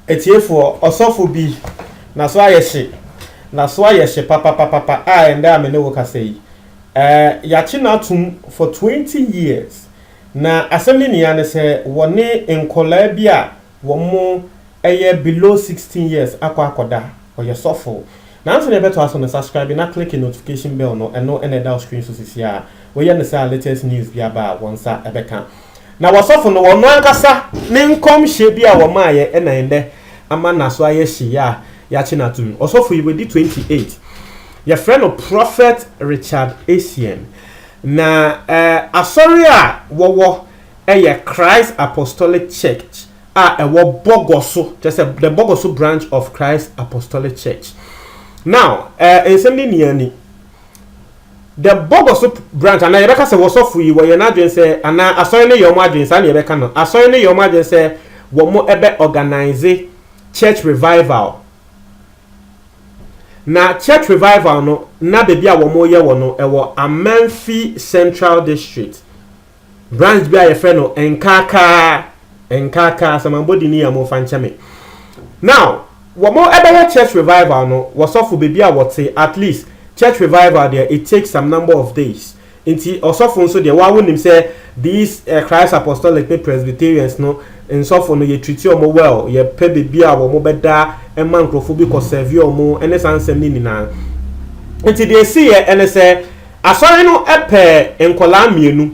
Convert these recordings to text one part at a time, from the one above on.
Atiefoɔ, ɔsɔfo bi, n'aso ayɛ hye, n'aso ayɛ hye papapapapa a ɛndɛ a me ne wo kasa yi, eh, yɛakye no atom for 20 years, na asɛm ne nia ne sɛ wɔne nkɔlaa bi a wɔn mo ɛyɛ below sixteen years akɔ akɔda ɔyɛ sɔfo nanso nea ɛbɛtoa so no subscribe na click notification bell no ɛno na ɛda wo screen so sisi a woyɛ no saa latest news bi aba a wɔn nsa ɛbɛka na wɔsɔfo no wɔn ankasa ne nkɔmhyɛ bi a wɔmaayɛ ɛna ɛnɛ ama naso ayɛ hye a yɛakye no atum ɔsɔfo yi wadi twenty eight yɛfrɛ no prophet Richard Essien na eh, asɔre a wɔwɔ yɛ Christ Apostolic Church a ɛwɔ Bɔgɔso, kyerɛ sɛ the Bɔgɔso branch of Christ Apostolic Church. Now, eh, nsɛm ne nia ni. The Bɔgɔso branch, anaa yɛbɛka sɛ wɔsɔfo yi wɔyɛ n'adwene sɛ, anaa asɔre no yɛ wɔn adwene saa na yɛbɛka no. Asɔre no yɛ wɔn adwene sɛ wɔn ɛbɛ organize church revival. Na church revival no, na baabi a wɔn yɛ wɔ no ɛwɔ Amanfi Central District. Branch bi a yɛfrɛ no Nkaakaa, Nkaakaa, sɛ mabɔ din yi a momfa nkyɛ me. Now, wɔbɛyɛ church revival no, wɔsɔfo baabi a wɔte, at least church revival deɛ it takes some number of days. Nti ɔsɔfo nso deɛ woa wonim sɛ these uh, Christ Apostolic ne Presbyterians no nsɔfo no yɛ treat wɔn well, yɛpɛ baabi a wɔn bɛda ɛma nkurɔfo bi kɔ serve wɔn ɛne saa nsɛm no nyinaa. Nti deɛ ɛsi yɛ ɛne sɛ Asɔre no pɛɛ nkwadaa mmienu,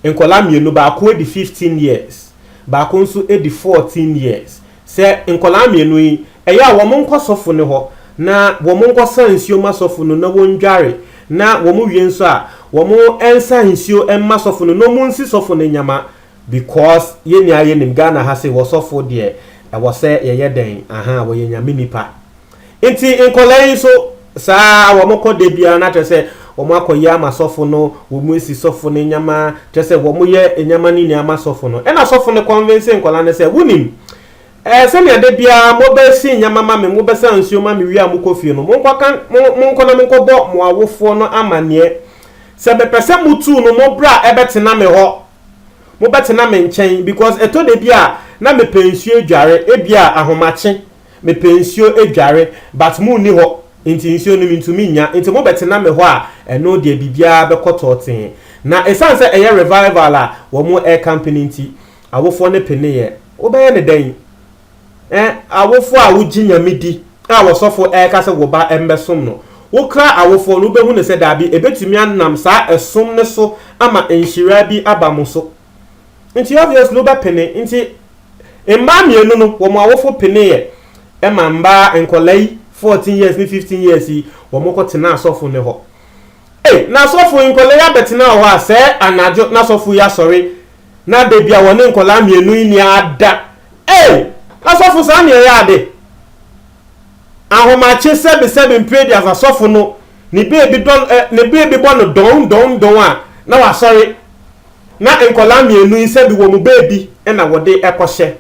nkwadaa mmienu, baako adi fifteen years, baako nso adi fourteen years, sɛ nkwadaa mmienu yi, ɛyɛ a wɔnkɔ sɔfo no hɔ na wɔnkɔsa nsuo mma sɔfo no na wɔndware, na wɔwie nso a, wɔnsa nsuo mma sɔfo no na wɔnsi sɔfo no nneɛma, because yɛn nyinaa yɛnim Ghana ha se, wɔ sɔfo deɛ, ɛwɔ sɛ yɛyɛ dɛn, ahaa, wɔyɛ Nyame nnipa. Nti nkɔlaa yi nso saa wɔn kɔ da biara na kyerɛ sɛ wɔn akɔ yɛ ama sɔfo no wɔn esi sɔfo no nyɛma kyerɛ sɛ wɔn yɛ nyɛma no nyinaa ama sɔfo no ɛna sɔfo no kɔnvense nkɔlaa no sɛ wunim ɛɛ sɛnea da biara mo bɛ si nyɛma ma me mo bɛ sa nsuo ma me wie a mo kɔ fie no mo nkɔ kan mo mo nkɔ na mo nkɔ bɔ mo awofoɔ no amaneɛ sɛ me pɛ sɛ mo tuu no mo bra ɛbɛ tena me hɔ mo bɛ tena me nkyɛn because ɛtɔ da bi a na me pɛ nsuo adware ebi a ahomakye Mepɛ nsuo adware but mo nni hɔ nti nsuo no mentumi nnya nti mo bɛtena me hɔ a ɛno deɛ biribiara bɛkɔ tɔɔtee. Na ɛsiane sɛ ɛyɛ revival a wɔn rekampe no nti awofoɔ no peneeɛ. Wobɛyɛ no dɛn? Eh, awofoɔ a wogye Nyame di a ɔsɔfo reka sɛ wo ba mmɛsom no, wokra awofoɔ no wobɛhu no sɛ daabi ɛbɛtumi anam saa ɛsom no so ama nhyira bi aba mo so. Nti obviously wo bɛ pene nti mmaa mmienu no wɔn awofo pene yɛ ɛma mmaa nkɔla yi fourteen years ne fifteen years yi wɔn kɔ tena asɔfo ne hɔ ei na asɔfo yi nkɔla yi abɛ tena wɔ hɔ a sɛɛ anadwo na asɔfo yi asɔre na da bi a wɔne nkɔla mmienu yi ni ada ei asɔfo saa ne ɛyɛ ade ahomakye sɛbi sɛbi mpire di as asɔfo no ne beebi dɔ eh, ne beebi bɔ no dɔn dɔn dɔn a na wasɔre. na nkwadaa mmienu yi sɛbi wɔn baabi na wɔde kɔhyɛ.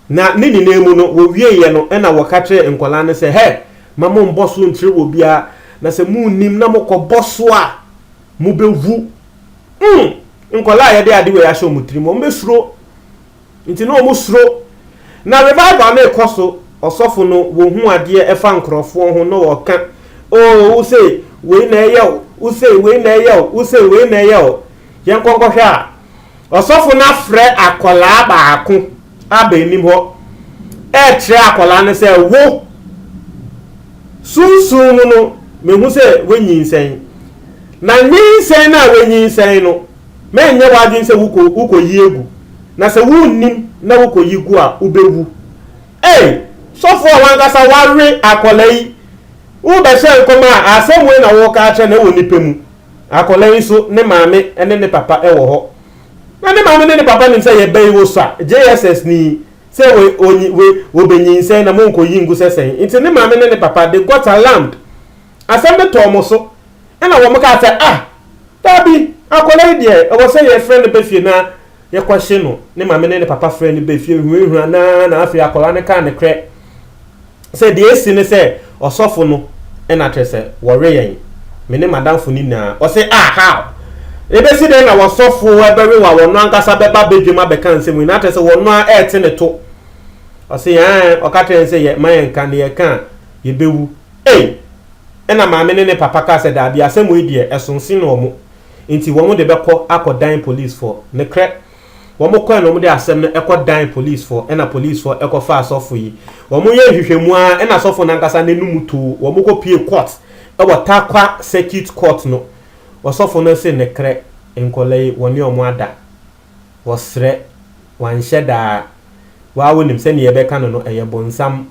Na ne nyinaa mu no, wɔwieeɛ no na wɔka kyerɛɛ nkwadaa no sɛ, Hɛ, ma mommɔ so nkyerɛ obiara, na sɛ monnim na mokɔbɔ so a, mobɛwu. Mm! Nkwadaa a yɛde ade wei ahyɛ wɔn tirim, wɔbɛsuro. Nti na ɔmo suro. Na revival no rekɔ so, ɔsɔfo no, wɔhu adeɛ ɛfa nkorɔfoɔ ho na ɔɔka, Oo, wo se wei na ɛyɛ o, wo se wei na ɛyɛ o, wo se wei na ɛyɛ o. Yɛnkɔ nkɔhwɛ a, ɔsɔfo no afrɛ akwadaa baako aba anim hɔ, ɛɛkyerɛ akwadaa no sɛ, Wo, sunsum mu no, mehu sɛ woanyinsɛn. Na nyinsɛn no a woanyinsɛn no, Ma ɛnyɛ w'adwene sɛ wokɔ, wokɔyi agu, na sɛ wonnim na wokɔyi gu a, wobɛwu. Ei! Sɔfoɔ a w'ankasa woawe akwadaa yi, worebɛhyɛ nkɔm a, asɛm wei na woreka akyerɛ no, ɛwɔ ne pɛ mu. Akwadaa yi nso, ne maame ne ne papa wɔ hɔ. Na ne maame ne ne papa nim sɛ yɛba yi wosua JSS ni, sɛ wɔ, ɔnyi, wɔ, ɔbɛnyinsɛn na monkɔyi ngu sɛ sɛn. Nti ne maame ne ne papa, they got alarmed. Asɛm no tɔɔ wɔn so, ɛnna wɔkaa sɛ, Ah, dabi, akwadaa yi deɛ, ɛwɔ sɛ yɛfrɛ no ba fie na yɛkɔhye no. Ne maame ne ne papa frɛɛ no ba fie hunahunaa no ara, na afei akwadaa no kaa nokorɛ sɛ, Deɛ asi ne sɛ, ɔsɔfo no na akyerɛ sɛ wɔwe yɛn, me ne m'adamfo no nyinaa. Ɔse, Ah, how? Ɛbɛsi dɛn na ɔsɔfo bɛwe wo a ɔno ankasa bɛba badwam abɛka nsɛm yi, na akyerɛ sɛ ɔno ara rete ne to? Ɔse, Ɛɛ, ɔka kyerɛɛ yɛn sɛ yɛmma yɛnka, na yɛka a, yɛbɛwu. Ei! Ɛnna maame ne ne papa kaa sɛ, Dabi, asɛm wei deɛ, ɛsonsen wɔn, enti wɔn de bɛkɔ akɔdan polisfoɔ. Nokorɛ, wɔkɔɛ na wɔde asɛm no kɔdan polisfoɔ, ɛnna polisfoɔ kɔfaa sɔfo yi. Wɔyɛɛ nhwehwɛmu ara, ɛnna sɔfo no ankasa n'anum too. Wɔkɔpuee kɔɔt wɔ Tarkwa Circuit Court no. Ɔsɔfo no se, Nokorɛ, nkwadaa yi, wɔne wɔn ada. Wɔsrɛ, wɔanhyɛ da ara. Wo ara wonim, sɛdeɛ yɛbɛka no no, ɛyɛ bonsam.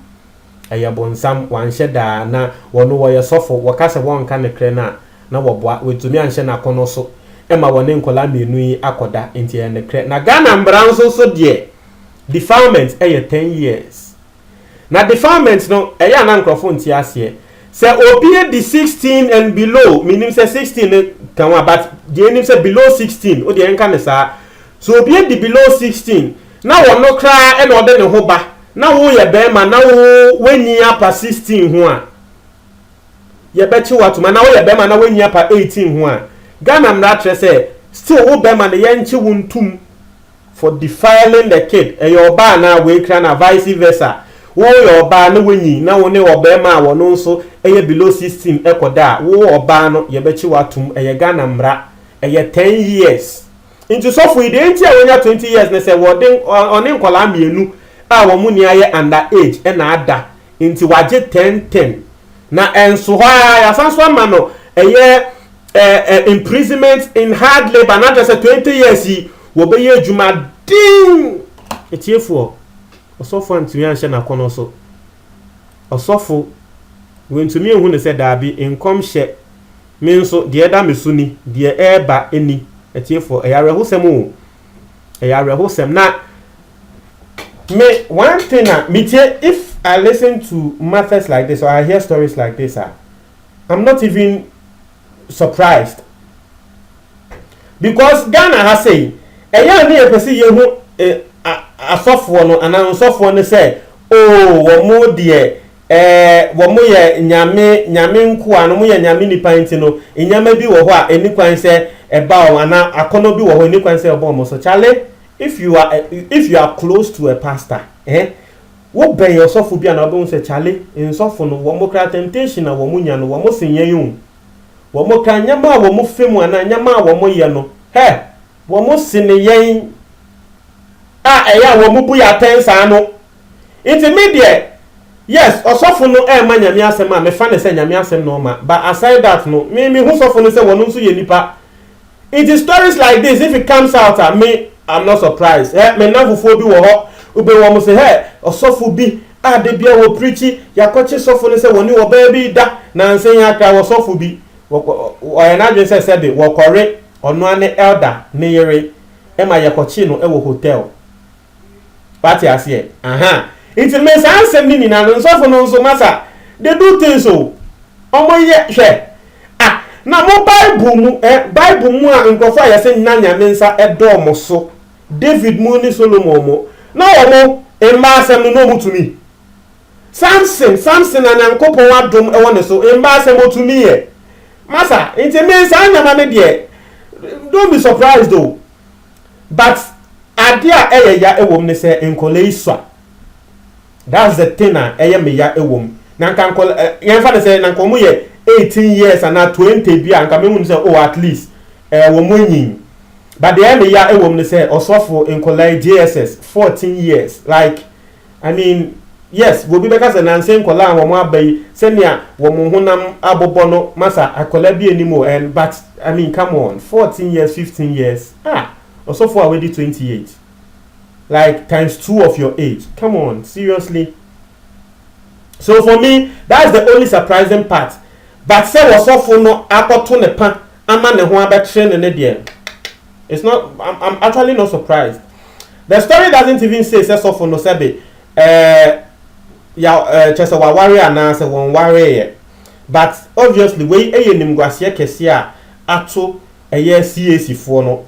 Ɛyɛ bonsam, wanhyɛ da a na wɔno wɔyɛ sɔfo, wɔka sɛ wɔnka nokrɛ no a na wɔboa, wantumi anhyɛ nakɔnɔ so ma wɔne nkɔlaa mmienu yi akɔ da, nti ɛyɛ nokrɛ, na Ghana mmara nso so deɛ defilement yɛ ten years, na defilement no ɛyɛ a na nkorɔfo nte aseɛ, sɛ obi adi sixteen and below, mennim sɛ sixteen no ka ho a but deɛ nnim sɛ below sixteen wodeɛ yɛnka no saa, Sɛ obi adi below sixteen na ɔno koraa na ɔde ne ho ba na wo yɛ barima na wo w'anyin apa sixteen ho a yɛ bɛ kye wo atom anaa wo yɛ barima na w'anyin apa eighteen ho a Ghana mmara kyerɛ sɛ still wo barima no yɛ nkye wo ntom for defiling the kid ɛyɛ ɔbaa anaa wei koraa na vice versa wo yɛ ɔbaa na w'anyin na wo ne ɔbarima a ɔno nso yɛ below sixteen kɔ da a wo ɔbaa no yɛ bɛ kye wo atom ɛyɛ Ghana mmara ɛyɛ ten years. Nti sɔfo yi deɛ nti a wanya twenty years ne sɛ wɔde ɔne nkwadaa mmienu a wɔn ni ayɛ under age ɛna ada nti wagye ten ten na ɛnso hɔ ara yasan so ama no ɛyɛ ɛɛ imprisonment in hard labour na kyerɛ sɛ twenty years yi wɔbɛyɛ adwuma den etiefoɔ ɔsɔfo antumi anhyɛ n'akɔnɔ so ɔsɔfo wɔntumi nhu ne sɛ daabi nkɔmhyɛ Me nso, deɛ ɛda me so ni, deɛ ɛreba ni. Atiefoɔ, ɛyɛ awerɛhosɛm o. Ɛyɛ awerɛhosɛm. Na me, one thing a metie, if I listen to matters like this or I hear stories like this a, I'm not even surprised. Because Ghana ha sei, ɛyɛ a ne yɛpɛ sɛ yɛhu eh, a, asɔfoɔ no anaa nsɔfoɔ no sɛ, oh, wɔn deɛ Ɛɛ, wɔyɛ Nyame Nyame nkoa no, wɔyɛ Nyame nnipa nti no, nneɛma bi wɔ hɔ a ɛnni kwan sɛ ɛba wɔn, anaa akɔnnɔ bi wɔ hɔ a ɛnni kwan sɛ ɛba wɔn so. Kyale, if you are if you are close to a pastor, eh, wobɛn ɔsɔfo bi a na wobɛhu sɛ kyale, nsɔfo no, wɔn koraa temptation a wɔnya no, wɔsen yɛn o. Wɔn koraa nneɛma a wɔfa mu anaa nneɛma a wɔyɛ no, hɛ, wɔsen yɛn a ɛyɛ a wɔbu yɛn atɛn saa no. Nti me deɛ yes ɔsɔfo no ɛɛma nyame asɛm a mefa no sɛ nyame asɛm na ɔma but aside that no me me hu sɔfo no sɛ wɔno nso yɛ nipa nti stories like this if it comes out a me I'm not surprised hɛ me nnamfofoɔ bi wɔ hɔ ube wɔn se hɛ ɔsɔfo bi a da bia wɔ preachi yakɔkye sɔfo no sɛ wɔne ɔbaa bi da nanse ya kra wɔ sɔfo bi wɔkɔ ɔyɛ n'adwene sɛ sɛbe wɔkɔre ɔnoa ne elder ne yere ɛma yɛkɔkye no ɛwɔ hotel. Wate aseɛ? Ahaa. Nti me saa nsɛm no nyinaa no, nsɔfo no nso, masa, they do things o. Wɔyɛ, hwɛ. Ah, na mo Bible mu, eh, Bible mu a nkurɔfo a yɛse na Nyame nsa da wɔn so, David mo ne Solomon mo, na wɔn mmaa asɛm no na wɔtumi. Samson, Samson na Nyankopɔn adom wɔ ne so, mmaa asɛm ɔtumiiɛ. Masa, nti me saa nneɛma no deɛ, don't be surprised o. but adeɛ a ɛyɛ ya wɔ mu ne sɛ nkwadaa yi sua that's the thing a ɛyɛ me ya wɔ mu na nka nkwadaa eh, yɛn fa ne sɛ na nka wɔn yɛ eighteen years anaa twenty bi a nka mehu ne sɛ oh at least ɛɛ eh, wɔn anyin but deɛ ɛyɛ me ya wɔ mu ne sɛ ɔsɔfo nkwadaa yi JSS fourteen years like. I mean yes obi bɛka sɛ nanse nkɔlaa a wɔn aba yi sɛnea wɔn honam abobɔ no masa akɔlaa bi anim o and but I mean come on fourteen years fifteen years ah ɔsɔfo a wadi twenty eight like times two of your age come on seriously so for me that's the only surprising part but sɛ wɔsɔfo no akɔto ne pa ama ne ho abɛkye no ne deɛ it's not I'm, I'm actually not surprised the story doesn't even say sɛ sɔfo no sɛbe ɛɛ ya ɛɛ kyɛ sɛ waware anaa sɛ wɔn wareeɛ but obviously wei ɛyɛ nimguaseɛ kɛseɛ a ato ɛyɛ CAC foɔ no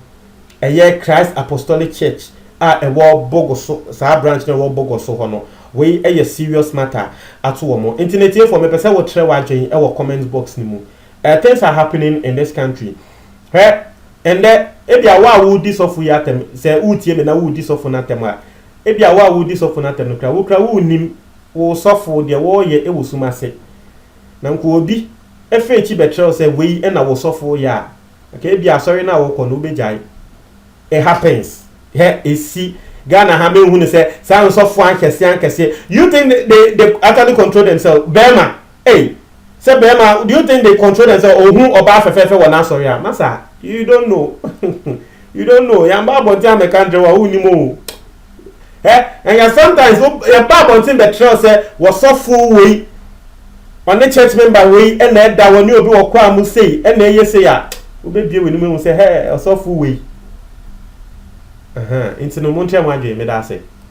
ɛyɛ Christ Apostolic Church a ɛwɔ bogo so saa branch na ɛwɔ bogo so hɔ no wei ɛyɛ serious matter ato wɔn nti na etiefoɔ mepɛ sɛ wɔtrɛ w'adwene ɛwɔ comment box no mu. Eh things are happening in this country hwɛ ɛndɛ ebia wo a wo di sɔfo yi atɛm sɛ wo tie me na wo di sɔfo no atɛm a ebia wo a wo di sɔfo no atɛm no kura wo kura wo nim wo sɔfo deɛ wɔɔyɛ ɛwɔ sum ase na nko obi ɛfɛ akyi bɛkyerɛw sɛ wei ɛna wo sɔfo yɛ a nka ebia asɔre no a wɔkɔ no wobɛgyae it happens hɛ esi Ghana ha menhu ne sɛ saa nsɔfo ankɛse ankɛse you think they, they actually control themselves bɛɛma Ei sɛ bɛɛma do you think they control them sɛ ohu ɔbaa fɛfɛɛfɛ wɔ n'asɔre a masa you don't know you don't know yɛn ba abɔnten amɛka ntrɛ wo a wo nim oo hɛ and yɛ sometimes wo yɛn ba abɔnten bɛ trɛw sɛ wɔ sɔfoɔ woi ɔne church member woi ɛna ɛda wɔ ne obi wɔ kɔ a mo sei ɛna ɛyɛ sei a wo bɛ bie wɔ ne mu ehu sɛ hɛ ɔsɔfoɔ woi ɛhɛn nti no mo ntrɛ mo adwene meda ase.